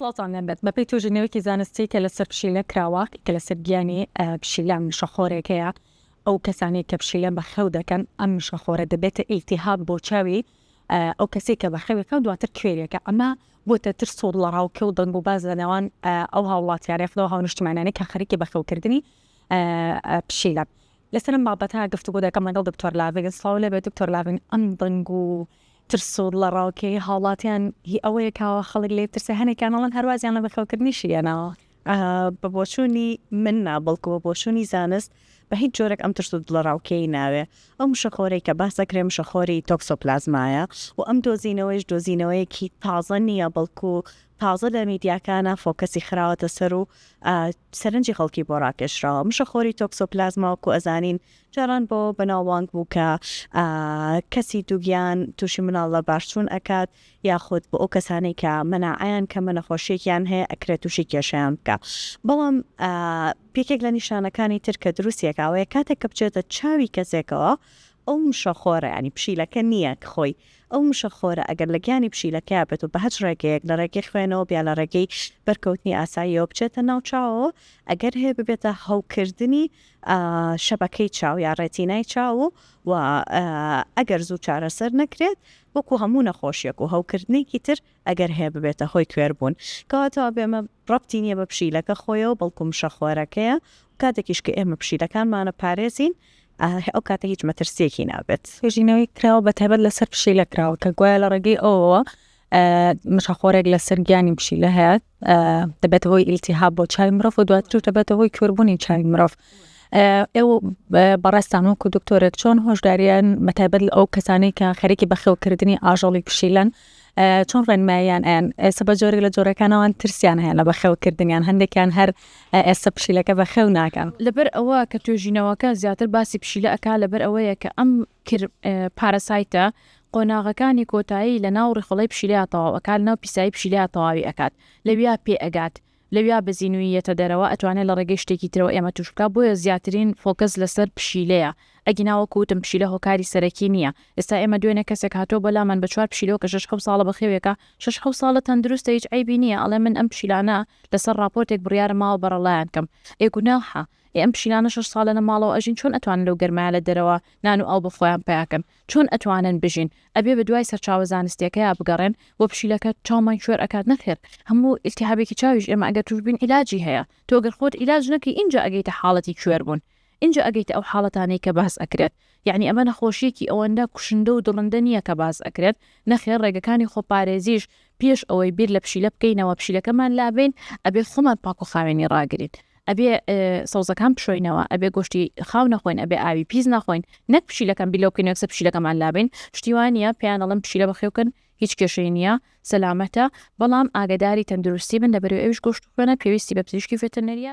سڵاوتان لێ بێت بەپێی توێژینەوەیەکی زانستی کە لەسەر پشیلە کراوە کە لەسەر گیانی پشیلە مشەخۆرێک هەیە ئەو کەسانەی کە پشیلە بە خەو دەکەن ئەم مشەخۆرە دەبێتە ئیلتیهاب بۆ چاوی ئەو کەسێک کە بە خەوێکە دواتر کوێرێکە ئەمە بۆتە ترس و لەڕاوکێ و دەنگ و باز لە نێوان ئەو هاوڵاتیانە خدەوە هاونیشتمانانی کە خەریکی بەخەوکردنی پشیلە لەسەرم بابەتە گفتوگۆ دەکەم لەگەڵ دکتۆر لاڤین سڵاو لێ بێت دکتۆر لاڤین ئەم دەنگ و ترس و ڵەڕاوکێی هاوڵاتیان هی ئەوەیە کە خەڵک لێی بترسێ، هەنێکیان ئەڵێن هەر وازیان لە بەخێوکردنیشی هێناوە. بە بۆچوونی من نا، بەڵکو بە بۆچوونی زانست بە هیچ جۆرێک ئەم ترس و دڵەڕاوکێی ناوێ. ئەو مشەخۆرەی کە باس دەکرێ مشەخۆری تۆکسۆپلازمایە و ئەم دۆزینەوەیش دۆزینەوەیەکی تازە نییە، بەڵکو تازە لە میدیاکانا فۆکەسی خراوەتە سەر و سەرنجی خەڵکی بۆ ڕاکێشراوە. مشەخۆری تۆکسۆپلازما وەکو ئەزانین جاران بۆ بەناوبانگ بوو کە کەسی دووگیان تووشی مناڵ لە بارچوون ئەکات یاخود بۆ ئەو کەسانەی کە مەناعەیان کەمە نەخۆشیەکیان هەیە ئەکرێت تووشی کێشیان بکە بەڵام پێکێک لە نیشانەکانی تر کە دروستیەکاوەیە کاتێک کە بچێتە چاوی کەسێکەوە ئەو مشەخۆرە ینی پشیلەکە نییە خۆی ئەو مشەخۆرە ئەگەر لە گیانی پشیلەکە بێت و بە هەچ ڕێگەیەک لە ڕێگەی خوێنەوە بیا لە ڕێگەی بەرکەوتنی ئاساییەوە بچێتە ناوچاوەوە ئەگەر هەیە ببێتە هەوکردنی شەبەکەی چاو یا ڕێتینای چاو و ئەگەر زوو چارەسەر نەکرێت وەکو هەموو نەخۆشیەک و هەوکردنێکی تر ئەگەر هەیە ببێتە هۆی کوێربوون کەواتەوە بێمە ڕەتی نییە بە پشیلەکە خۆیەوە بەڵکو مشەخۆرەکەیە کاتێکیش کە ئێمە پشیلەکانمانە پارێزین ئەو کاتە هیچ مەترسیەکی نابێت توێژینەوەی کراوە بە تایبەت لەسەر پشیلە کراوە کە گوایە لە ڕێگەی ئەوەوە مشەخۆرێک لەسەر گیانی پشیلە هەیە دەبێتە هۆی ئیلتیهاب بۆ چای مرۆڤ و دواتر دەبێتە هۆی کوربوونی چای مرۆڤ ئێوە بەڕێستان وەکو دکتۆرێک چۆن هۆشداریان مەتابەت ئەو کەسانی کە خەرێکی بەخێوکردنی ئاژەڵی پشیلەن چۆن ڕێنمایان ئەیان ئێستا بە جۆرێک لە جۆرەکانەوەن ترسیان هەیە لە بەخێوکردنیان هەندێکیان هەر ئێستا پشیلەکە بەخێو ناکەن لەبەر ئەوە کە توێژینەوەکە زیاتر باسی پشیلە ئەک لەبەر ئەوەیە کە ئەم کر پاراسایتە قۆناغەکانی کۆتایی لە ناو ڕیخۆڵەی پشیلەیا تەواو ئەکات لەناو پیسایی پشیلەیا تەواوی ئەکات لەویا پێ ئەگات لەویا بە زینووی یەتە دەرەوە ئەتوانێ لە ڕێگەی شتێکی ترەوە ئێمە تووش بکا بۆیە زیاترین فۆکەس لەسەر پشیلەیە ئەگینا وەکو وتم پشیلە هۆکاری سەرەکی نییە ئێستا ئێمە دوێنێ کەسێک هاتووە بۆ لامان بە چوار پشیلەوە کە شەش حەوت ساڵە بەخێوێکە شەش حەوت ساڵە تەندروستە هیچ عەیبی نییە ئەڵێ من ئەم پشیلانە لەسەر ڕاپۆرتێک بڕیارم ماوە بەڕەڵایان کەم ئێ گوناحە ئێ ئەم پشیلانە شەش ساڵە لە ماڵەوە ئەژین چۆن ئەتوانن لەو گەرمایە لە دەرەوە نان و ئاو بۆ خۆیان پەیا کەن چۆن ئەتوانن بژین ئەبێ بە دوای سەرچاوە زانستیەکەیا بگەڕێن وە پشیلەکە چاومان کوێر ئەکات نەخێر هەموو التهابێکی چاویش ئێمە ئەگەر توش بین علاجی هەیە تۆ گەر خۆت علاج نەکەی ئینجا ئەگەیتە حاڵەتی کوێر بوون ئینجا ئەگەیتە ئەو حاڵەتانەی کە باس ئەکرێت یەعنی ئەمە نەخۆشیەکی ئەوەندە کوشندە و دڕندە نیە کە باس ئەکرێت نەخێر ڕێگەکانی خۆپارێزیش پێش ئەوەی بیر لە پشیلە بکەینەوە پشیلەکەمان لابەین ئەبێ خۆمان پاک و خاوێنی ڕاگرین ئەبێ سەوزەکان بشۆینەوە ئەبێ گۆشتی خاو نەخۆین ئەبێ ئاوی پیس نەخۆین نەک پشیلەکەم بیلۆ بکەین یەکسە پشیلەکەمان لابین شتیوانە پێیانەڵم پشیلە بەخێوکن هیچ کێشەی نییە سەلامەتە بەڵام ئاگداری تەندروستی بن لەبەر ئەوش گۆشت خوێنە پێویستی بە پزیشکی فێتەنەریە